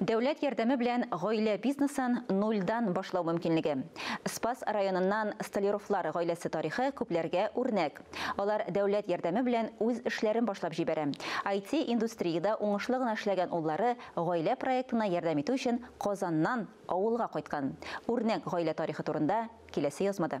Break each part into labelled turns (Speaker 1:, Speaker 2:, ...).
Speaker 1: Дәүләт ярдәме белән гаилә бизнесын нульдан башлау мөмкинлеге. Спас районыннан Столяровлар гаиләсе тарихы күпләргә үрнәк. Алар дәүләт ярдәме белән үз эшләрен башлап җибәрә. IT-индустриядә уңышлы гына эшләгән уллары гаилә проектына ярдәм итү өчен Казаннан авылга кайткан. Үрнәк гаилә тарихы турында киләсе язмада.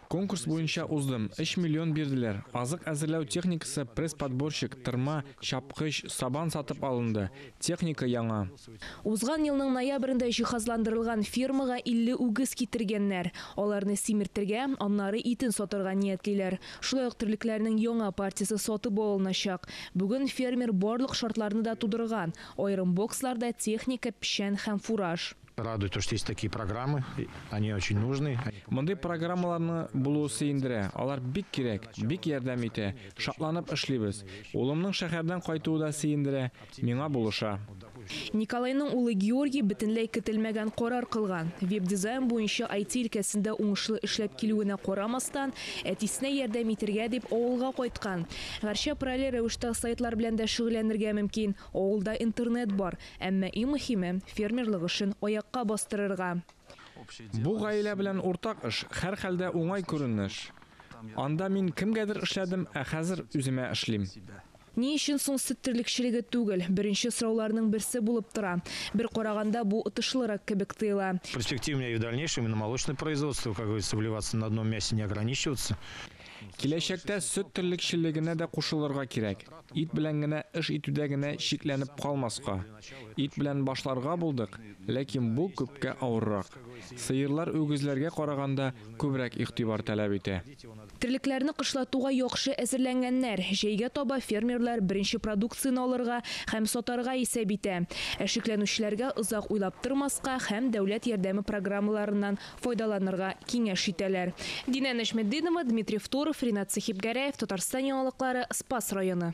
Speaker 2: Конкурс буенча
Speaker 3: уздым. Өч миллион бирделәр. Азык әзерләү техникасы, пресс-подборщик, тырма, чапкыч, сабан сатып алынды. Техника яңа. Узган елның
Speaker 4: ноябрендә җиһазландырылган фермага 50 үгез китергәннәр. Аларны симертергә, аннары итен сатарга ниятлиләр. Шулай ук терлекләрнең яңа партиясе сатып алыначак. Бүген фермер барлык шартларны да тудырган, аерым боксларда техника, печән һәм фураж. Радует то, что есть
Speaker 2: такие программы, они очень нужны. Мондый программаларны
Speaker 3: булуы сөендерә. Алар бик кирәк, бик ярдәм итә. Шатланып эшлибез. Улымның шәһәрдән кайтуы да сөендерә, миңа булыша. Николайның
Speaker 4: улы Георгий бөтенләй көтелмәгән карар кылган. Веб-дизайн буенча IT өлкәсендә уңышлы эшләп килүенә карамастан, әтисенә ярдәм итергә дип авылга кайткан. Гәрчә параллель рәвештә сайтлар белән дә шөгыльләнергә мөмкин. Авылда интернет бар. Әмма иң мөһиме, фермерлык эшен аякка бастырырга. Бу
Speaker 3: гаилә белән уртак эш, һәрхәлдә уңай күренеш. Анда мин кемгәдер эшләдем, ә хәзер үземә эшлим. Ни өчен
Speaker 4: соң сөт терлекчелеге түгел? Беренче сорауларның берсе булып тора. Бер караганда, бу отышлырак кебек тоела. Перспективнее и в дальнейшем,
Speaker 2: и на молочное производство, как говорится, вливаться, на одном мясе не ограничиваться. Киләчәктә
Speaker 3: сөт терлекчелегенә дә кушылырга кирәк. Ит белән генә эш итүдә генә чикләнеп калмаска. Ит белән башларга булдык, ләкин бу күпкә авыррак. Сыерлар үгезләргә караганда күбрәк игътибар таләп итә. Терлекләрне
Speaker 4: кышлатуга яхшы әзерләнгәннәр. Җәйгә таба фермерлар беренче продукцияне алырга һәм сатарга исәп итә. Ә шикләнүчеләргә озак уйлап тормаска һәм дәүләт ярдәме программаларыннан файдаланырга киңәш итәләр. Динә Нәҗметдинова, Дмитрий Второв, Ринат Сәхибгәрәев, Татарстан яңалыклары, Спас районы.